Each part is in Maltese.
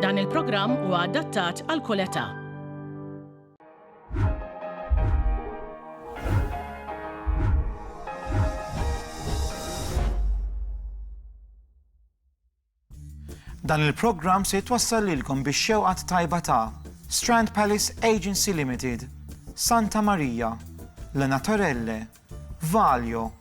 Dan il-programm huwa adattat għal kull età. Dan il-programm se jitwassal lilkom biex xewqat tajba ta' Strand Palace Agency Limited, Santa Maria, Lena Torelle, Valjo,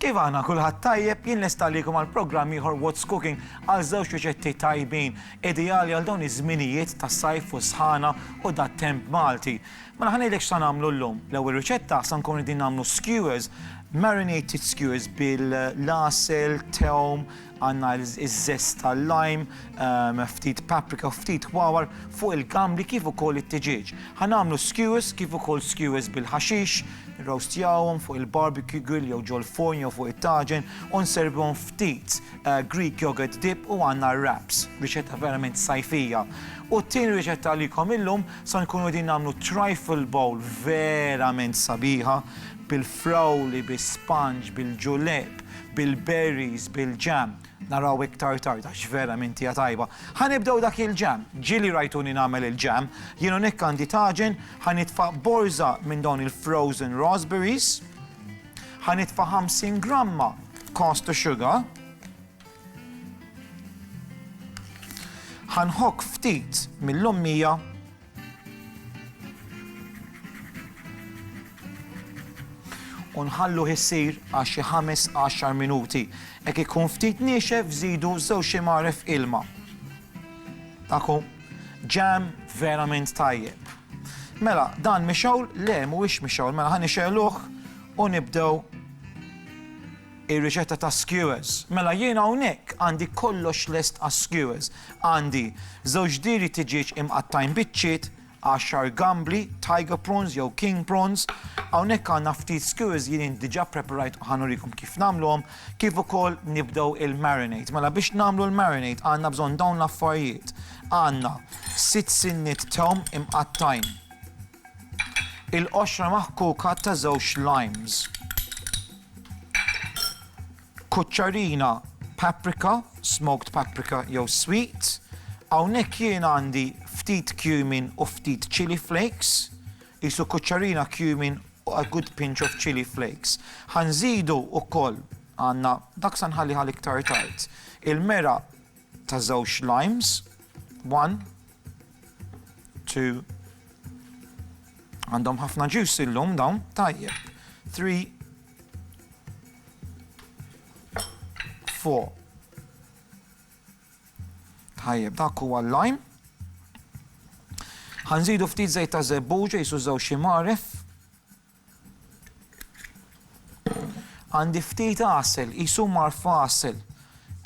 Kif aħna kulħadd tajjeb, jien lest għalikom għal programm ieħor What's Cooking għal żewġ riċetti tajbin, ideali għal dawn iż-żminijiet ta' sajf u sħana u dat-temp Malti. Mela ħa ngħidlek x'sa nagħmlu llum. L-ewwel riċetta sa nkunu qegħdin nagħmlu skewers, marinated skewers bil-l-għasel, tewm, Għandna iż-żest tal-lime, ftit paprika u ftit wawar fuq il-gambli kif ukoll it-tiġieġ. Ħa nagħmlu skewers kif ukoll skewers bil-ħaxix, nirrowstjawhom fuq il-barbecue grill jew ġol-furn jew fuq it-taġen u nservuhom ftit Greek yogurt dip u għandna r-wraps. Riċetta verament sajfija. U t-tieni riċetta għalikom illum, sa nkunu qegħdin nagħmlu trifle bowl verament sabiħa bil-frawli, bis-sponge, bil-julep, bil-berries, bil-jam, naraw iktar tard għax vera minn tija tajba. Ħa nibdew dak il-jam, ġieli rajtuni nagħmel il-jam, jien hawnhekk għandi taġen, ħa nitfa' borża minn dawn il-frozen raspberries, ħa nitfa' 50 gramma cost to sugar, ħanħok ftit mill-lommija u nħalluh isir għal xi ħames għaxar minuti. Jekk ikun ftit niexef żidu żewġ imgħaref ilma. Taku, ġam verament tajjeb. Mela, dan mixawl, le mhuwiex mixawl, mela ħan ixeluh u nibdew Ir-riċetta ta' skewers. Mela jien hawnhekk għandi kollox lest għas-skewers. Għandi żewġ diri ta' ġieġ imqattgħin biċċiet, għaxar gambli, tiger prawns jew king prawns, hawnhekk għandna ftit skewers li jien diġà ppreparajt u ħa nurikom kif nagħmluhom, kif ukoll nibdew il-marinade. Mela biex nagħmlu l-marinade għandna bżonn dawn l-affarijiet. Għandna sitt sinniet tewm imqattgħin Il-qoxra maħkuka ta' żewġ limes. Kuċċarina paprika, smoked paprika jew sweet. Hawnhekk jien għandi ftit cumin u ftit chilli flakes. Qisu kuċċarina cumin u a good pinch of chilli flakes. Ħa nżidu wkoll għandna dak se nħalliha l-iktar tard. Il-meraq ta' żewġ limes, one, two, għandhom ħafna ġus illum dawn, tajjeb, three, four. Tajjeb, dak huwa l-lime. Ħanżidu ftit żejt ta' żebbuġa jisu żewġ ximaref. Għandi ftit għasel, qisu mar f'għasel.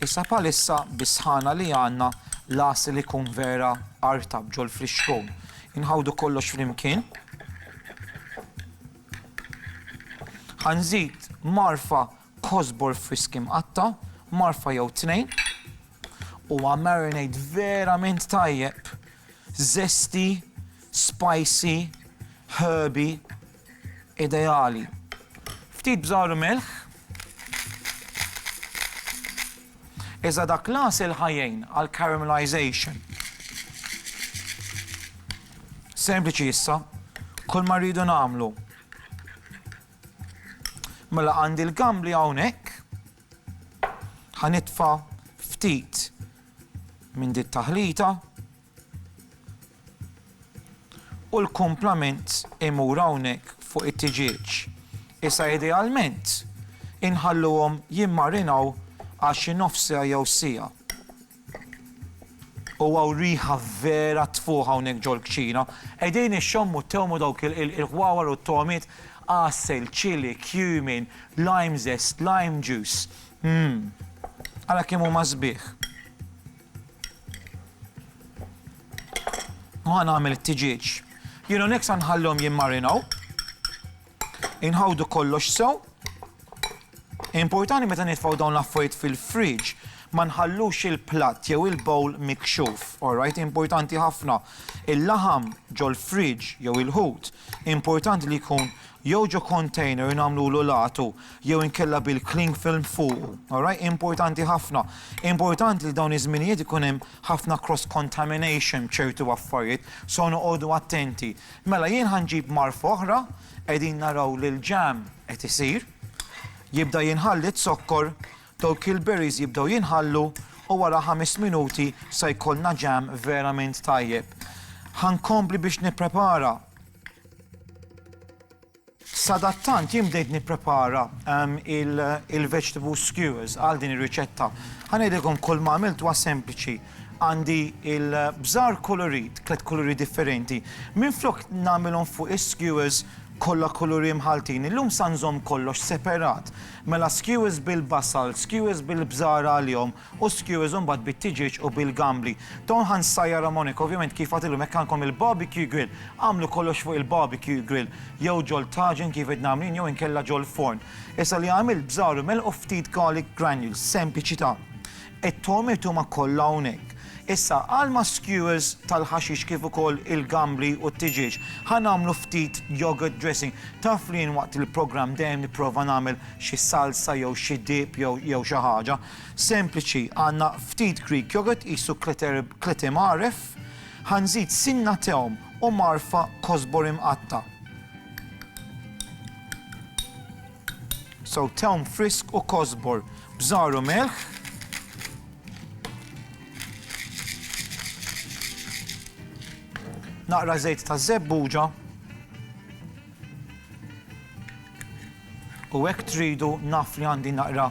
Issa bħalissa bis-sħana li għandna l-għasel ikun vera artab ġol-frixkon. Inħawdu kollox flimkien. Ħa nżid marfa kosbor frisk imqatta', marfa jew tnejn, huwa marinade verament tajjeb, zesty, spicy, herby, ideali. Ftit bżar u milħ, iżda dak l-għasel ħa jgħin għal caramelization. Sempliċi issa, kull ma rridu nagħmlu, Mela għandi l-gambli hawnhekk. Ħanitfa' ftit minn dit taħlita u l-kumplament imur hawnhekk fuq it-tiġieġ. Issa idealment inħalluhom jimmarinaw għal xi nofs siegħa jew siegħa. O hawn riħa vera tfuħ hawnhekk ġol-kċina. Qegħdin ixxommu ttewmu dawk il-ħwawar u t-togħmiet, għasel, chilli, cumin, lime zest, lime juice. Mmm. Ara kemm huma sbieħ. U ħa nagħmel it-tiġieġ. Jiena hawnhekk sa nħallihom jimmarinaw. Inħawdu kollox sew. Importanti meta nitfgħu dawn l-affarijiet fil-fridge ma nħallux il-platt jew il-bowl mikxuf, alright? Importanti ħafna. Il-laħam ġol-fridge jew il-ħut, importanti li jkun jew ġo container nagħmlulu latu jew inkella bil-cling film fuq, alright? Importanti ħafna. Importanti li dawn iż-żminijiet ikun hemm ħafna cross contamination b'ċertu affarijiet, so noqogħdu attenti. Mela jien ħa nġib mgħarfa oħra, qegħdin naraw li l-jam qed isir, jibda jinħall iz-zokkor, dawk il-berries jibdew jinħallu u wara ħames minuti se jkollna jam verament tajjeb. Ħa nkompli biex nipprepara. Sadattant jien bdejt nipprepara il-vegetable skewers għal din ir-riċetta. Ħa ngħidilkom kulma għamilt huwa sempliċi. Għandi il-bżar kulurit, tliet kuluri differenti. Minflok nagħmilhom fuq is-skewers kollha kuluri mħalltin, illum sa nżomm kollox seperat. Mela skewers bil-basal, skewers bil-bżar għalihom u skewers u mbagħad bit-tiġieġ u bil-gambli. Dawn ħa nsajjarhom hawnhekk, ovvjament kif għadtilkom hekk għandkom il-barbecue grill. Agħmlu kollox fuq il-barbecue grill, jew ġol taġen kif għidna għamlin jew inkella ġol-forn. Issa li għamilt bżar u melħ u ftit garlic granules, sempliċità. It-tom irtuma kollha hawnhekk. Issa għal ma' skewers tal-ħaxix kif ukoll il-gambli u t-tiġieġ, ħa nagħmlu ftit yogurt dressing. Taf li jien waqt il-programm dejjem nipprova nagħmel xi salsa jew xi dip jew xi ħaġa. Sempliċi, għandna ftit Greek yogurt qisu kleti mgħarref, ħa nżid sinna tewm u mgħarrfa kosbor imqatta'. So tewm frisk u kosbor b'żgħar u melħ. Naqra żejt ta' żebbuġa. U hekk tridu naf li għandi naqra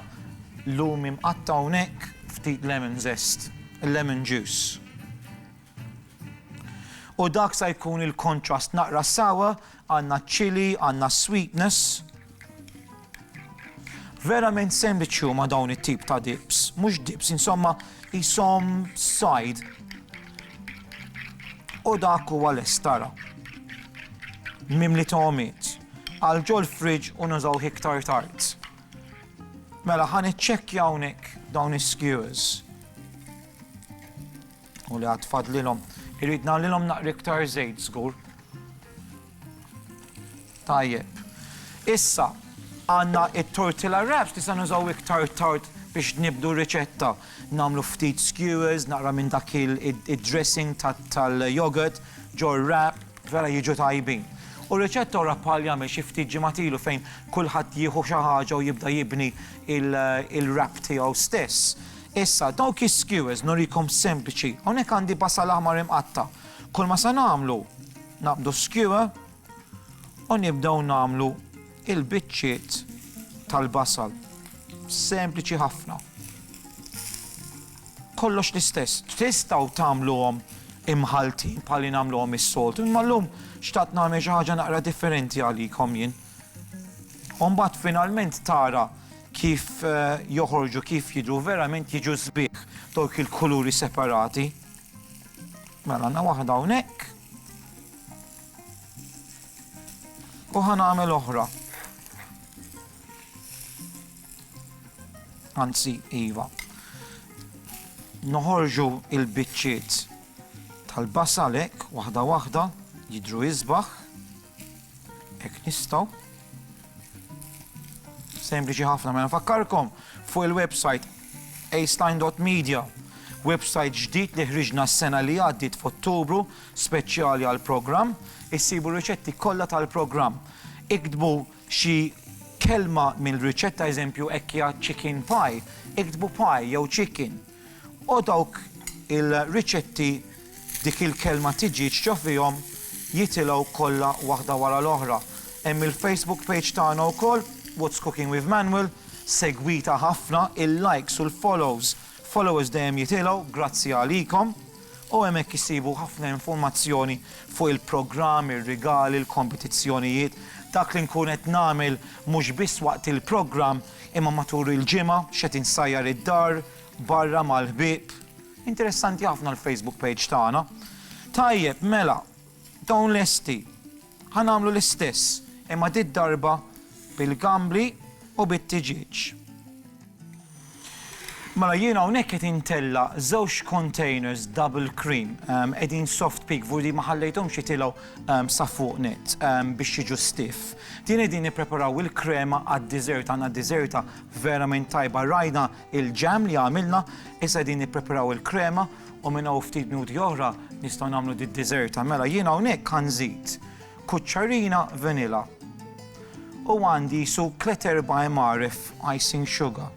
lumi mqatta' hawnhekk ftit lemon zest, lemon juice. U dak sa jkun il-contrast naqra sour, għandna chilli, għandna sweetness. Verament sempliċi huma dawn it-tip ta' dips, mhux dips, insomma, jisom sajd. U dak huwa l-estara. Mimli ta' omiet. Għal ġol fridge u nużaw iktar tard. Mela ħan iċċekkja hawnhekk dawn is-skewers. u li għad fadlilhom. Irrid nagħlilhom naqri iktar żejt żgur. Tajjeb. Issa, għanna it-tortilla wraps li se nużaw iktar tard biex nibdu riċetta. Namlu ftit skewers, naqra minn dak il-dressing tal-yogurt, ġor wrap, vera jiġu tajbin. U riċetta ora pali għamil xi ftit ġimatilu fejn kulħadd jieħu xi ħaġa u jibda jibni il-wrap tiegħu stess. Issa, dawk is-skewers nurikom sempliċi, hawnhekk għandi basal aħmar imqatta'. Kull ma se nagħmlu, naqbdu s-skewer u nibdew nagħmlu il-biċċiet tal-basal. Sempliċi ħafna. Kollox l-istess. Tistgħu tagħmluhom imħaltin bħal li nagħmluhom is-soltu, imma llum xtaqt nagħmel xi ħaġa naqra differenti għalikom jien. U mbagħad finalment tara kif joħorġu, kif jidhru verament jiġu sbieħ dawk il-kuluri separati. Mela għandna waħda hawnhekk. U ħa nagħmel oħra. Anzi, iva. Noħorġu il-biċċiet tal-basalek waħda waħda jidhru isbaħ. Hekk nistgħu. Sempliċi ħafna mela fakkarkom fuq il-website aceline.media website ġdid li ħriġna s-sena li għaddit f'Ottubru speċjali għal programm issibu riċetti kollha tal-programm. Iktbu xi kelma mill-riċetta eżempju ekkja chicken pie, iktbu pie jew chicken. O dawk il-riċetti dik il-kelma tiġi ċċa fihom jitilgħu kollha waħda wara l-oħra. Hemm il-Facebook page tagħna wkoll, What's Cooking with Manuel, segwita ħafna, il-likes u l-follows, followers dejjem jitilgħu grazzi għalikom. U hemmhekk issibu ħafna informazzjoni fuq il-programm, ir-rigali, l-kompetizzjonijiet, dak li nkun qed nagħmel mhux biss waqt il-programm Imma matul il-ġimgħa x'qed insajjar id-dar, barra mal-ħbieb. Interessanti ħafna l-Facebook page tagħna. Tajjeb, mela, dawn lesti. Ħa nagħmlu l-istess, imma did-darba bil-gambli u bit-tiġieġ. Mela jiena hawnhekk qed intella' żewġ containers double cream qegħdin soft peak vudi ma ħallejthomx jitilgħu sa fuq net biex jiġu stiff. Tieni din nippreparaw il-krema għad-dessert, għandna desserta verament tajba rajna il-jam li għamilna, issa qegħdin nippreparaw il-krema u minn hawn ftit minuti oħra nistgħu nagħmlu did-desserta. Mela jien hawnhekk ħa nżid kuċċarina vanilla u għandi qisu tliet erba' imgħaref icing sugar.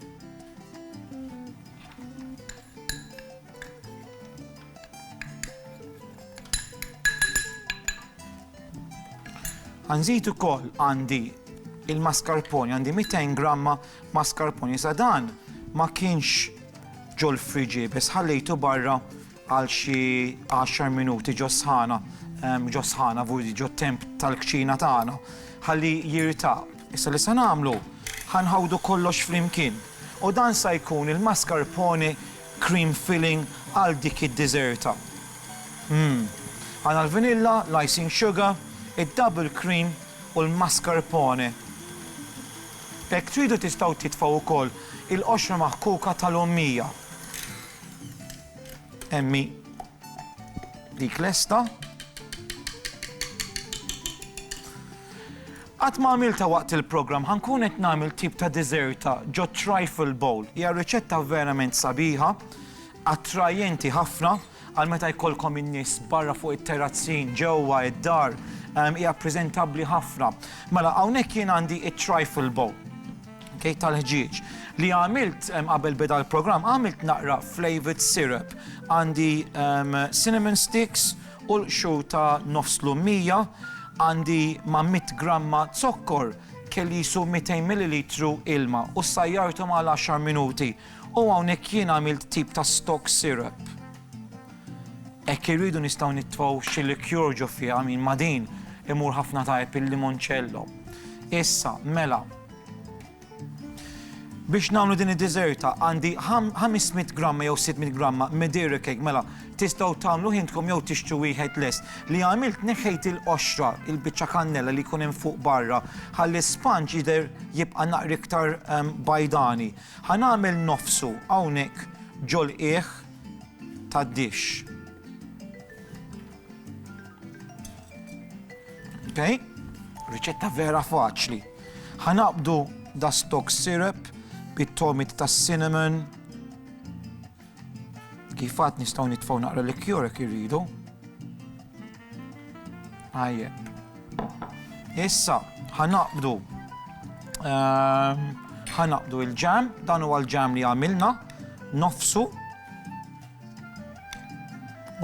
Ħa nżid ukoll għandi il-mascarpone, għandi 200 gramma mascarpone. Sa dan ma kienx ġol friġi, biss ħallejtu barra għal xi 10 minuti ġo sħana, ġo sħana vudi ġo temp tal-kċina tagħna, ħalli jirtaq. Issa li se nagħmlu, ħanħawdu kollox flimkien. U dan sa jkun il-mascarpone cream filling għal dik id-diżerta. Mmm. Għandna l-vanilla, l-icing sugar, id-double cream u l-mascarpone. Hekk tridu tistgħu titfgħu wkoll il-qoxra maħkuka tal-ommija. Hemm hi dik lesta. Qatt ma għamiltha waqt il-programm, ħa nkun qed nagħmel tip ta' diżerta ġo trifle bowl. Hija riċetta verament sabiħa, attrajenti ħafna għal meta jkollkom in-nies barra fuq it-terrazzin, ġewwa id-dar, hija preżentabbli ħafna. Mela hawnhekk jien għandi it-trifle bowl kej tal-ħġieġ li għamilt qabel beda l-programm għamilt naqra flavored syrup għandi cinnamon sticks Qulqxu ta' nofs lummija għandi ma' mitt gramma zokkor, kellisu 200 millilitru ilma u ssajjarthom għal għaxar minuti u hawnhekk jien għamilt tip ta' stock syrup. Hekk irridu nistgħu nitfgħu xi liqueur ġo fiha, min ma' din imur ħafna tajjeb il-limoncello. Issa, mela. Biex nagħmlu din id-diżerta għandi 500 gramma jew 600 gramma Madeira cake mela tistgħu tagħmluh intkom jew tixtru wieħed lest. Li għamilt neħħejt il-qoxra, il-biċċa kannella li jkun hemm fuq barra ħalli s-sponge jidher jibqa' naqra iktar bajdani. Ħa nagħmel nofsu hawnhekk ġol-qiegħ tad-dish. Okay? Riċetta vera faċli. Ħa naqbdu da stock syrup bit-togħmiet tas-cinnamon. Kif għadt nistgħu nitfgħu naqra liqueur jekk irridu. Tajjeb. Issa, ħa naqbdu ehm, ħa naqbdu il-ġam, dan huwa l-ġam li għamilna, nofsu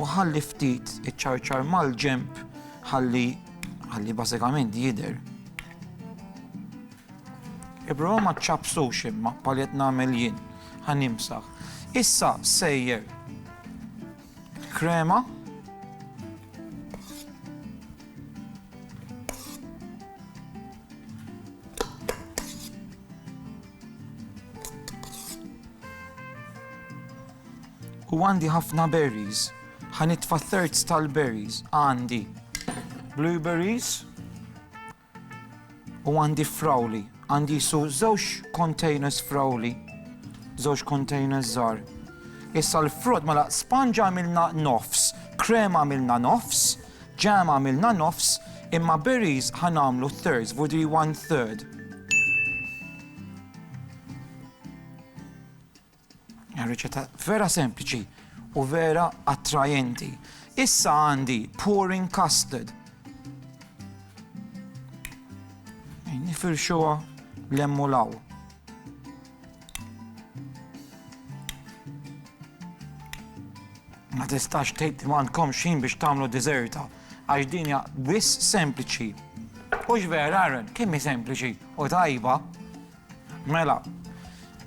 u ħalli ftit iċċarċar mal-ġemp ħalli Ħalli bażikament jidher. Ipprova ma ċċapsux imma bħal qed nagħmel jien. Ħa nimsaħ. Issa sejjer krema u għandi ħafna berries. Ħa nitfa' thirds tal-berries. Għandi blueberries u għandi frawli. Għandi jisu żewġ containers frawli, żewġ containers żgħar. Issa l-frott mela sponge għamilna nofs, krem għamilna nofs, ġam għamilna nofs, imma berries ħanamlu thirds, vudi one third. Riċetta vera sempliċi u vera attrajenti. Issa għandi pouring custard. Nifirxuha l-emmulaw. Ma tistax tgħid ma għandkom xin biex tagħmlu dizerta għax din hija biss sempliċi. U vera, kemm sempliċi u tajba. Mela,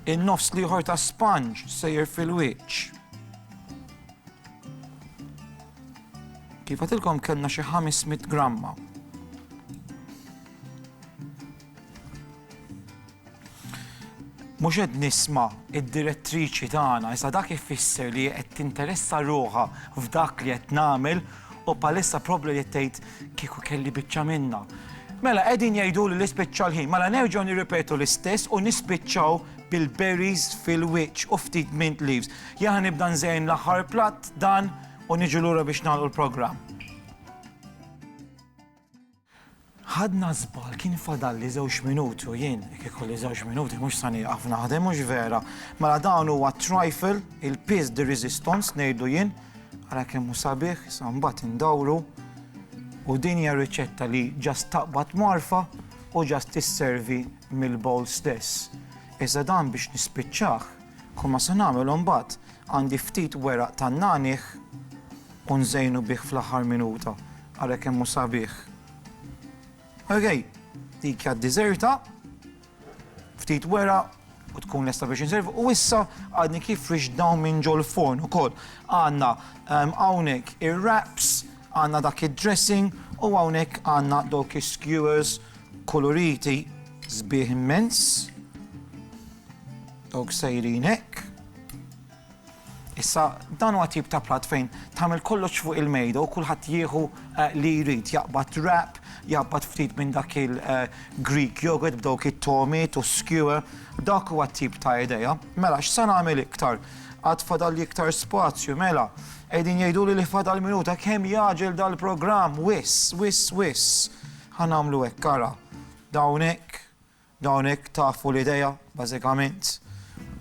in-nofs l-ieħor ta' sponge sejjer fil-wiċċ. Kif għatilkom kellna xi 500 gramma. Mhux qed nisma' id-direttriċi tagħna, iżda dak ifisser li qed tinteressa ruħha f'dak li qed nagħmel U bħalissa probbli li tgħid kieku kelli biċċa minnha. Mela qegħdin jgħiduli li spiċċa l-ħin, mela nerġgħu nirripetu l-istess u nispiċċaw bil-berries fil-wiċċ u ftit mint leaves. Jien ħa nibda nżejn l-aħħar platt dan u niġu lura biex nagħlqu l-programm. Ħadna żball, kien fadalli żewġ minuti u jien jekk ikolli żewġ minuti mhux sa nieqaf naħdem, hux vera? Mela dan huwa t-trifle, il-piece de resistance ngħidlu jien, ara kemm hu sabiħ, issa mbagħad indawru u din hija riċetta li just taqbad mgħarfa u just tisservi mill-bowl stess. Iżda dan biex nispiċċah, kull ma se nagħmel imbagħad għandi ftit weraq tan-nagħniegħ u nżejnu bih fl-aħħar minuta. Ara kemm hu sabiħ. Okej, dik hija d-diżerta, ftit wera u tkun lesta biex inservu. U issa għadni kif rixt dawn minn ġol-forn ukoll. Għandna ehm, hawnhekk ir-wraps, għandna dak id-dressing u hawnhekk għandna dawk is-skewers kuluriti sbieħ immens. Dawk sejrin hekk. Issa, dan huwa tip ta' platt fejn tagħmel kollox fuq il-mejda u kulħadd jieħu li jrid, jaqbad wrap, jaqbad ftit minn dak il-Greek yogurt b'dawk it-togħmiet u s-skewer, dak huwa t-tip ta' idea. Mela, x'se nagħmel iktar? Għad fadalli iktar spazju, mela. Qegħdin jgħiduli li fadal minuta, kemm jagħġel dal-programm, wiss, wiss, wiss. Ħa nagħmlu hekk, ara. Dawn hekk. Dawn hekk tafu l-idea, bażikament.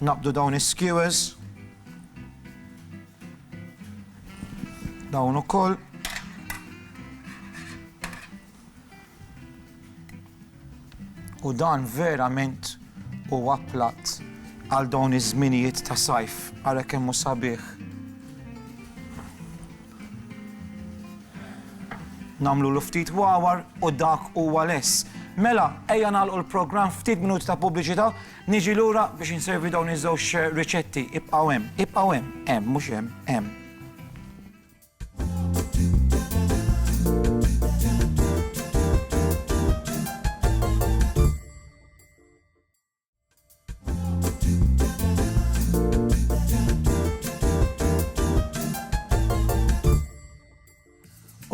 Naqbdu dawn is-skewers. Dawn ukoll. U dan verament huwa platt għal dawn iż-żminijiet ta' sajf, ara kemm hu sabiħ. Nagħmlulu ftit wawar u dak huwa less. Mela, ejja nagħlqu l-programm ftit minuti ta' pubbliċità, niġi lura biex inservi dawn iż-żewġ riċetti. Ibqgħu hemm, ibqgħu hemm, hemm, mhux hemm, hemm.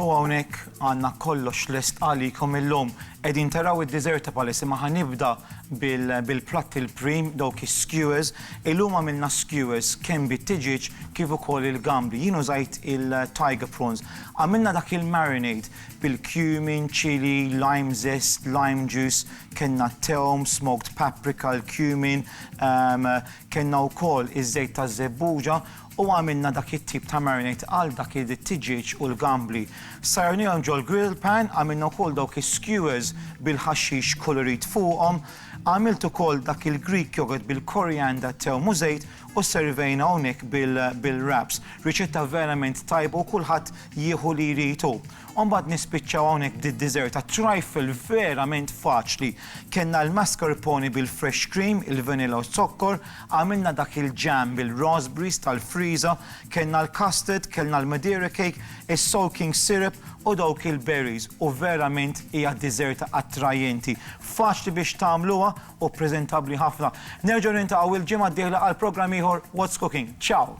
U hawnhekk għandna kollox lest għalikom illum. Qegħdin taraw id-Deserta Palace imma ħanibda bil-platt il-prim dawk is-skewers. Illum għamilna skewers kemm bit-tiġieġ kif ukoll il-gambi. Jien użajt il-tiger prawns. Għamilna dak il-marinade bil-cumin, chilli, lime zest, lime juice, kellna t-tewm, smoked paprika, l-cumin, kellna wkoll iż-żejt taż-żebbuġa u għamilna dak it-tip ta' marinate għal dak it-tiġieġ u l-gambli. Sajjarnihom ġol-grill pan, għamilna wkoll dawk is-skewers bil-ħaxix kulurit fuqhom, għamilt ukoll dak il-Greek yogurt bil-korianda, tewm u żejt u servejna hawnhekk bil-wraps. Riċetta verament tajba u kulħadd jieħu li jrid hu. U mbagħad nispiċċaw hawnhekk b'did-dessert għat-trifle verament faċli. Kellna l-mascarpone bil-fresh cream, il-vanilla u z-zokkor, għamilna dak il-jam bil-raspberries tal-friża, kellna l-custard, kellna l-madeira cake, is-soaking syrup u dawk il-berries u verament hija dessert attrajenti. Faċli biex tagħmluha u preżentabbli ħafna. Nerġgħu niltaqgħu l-ġimgħa d-dieħla għal programm ieħor What's Cooking. Ciao!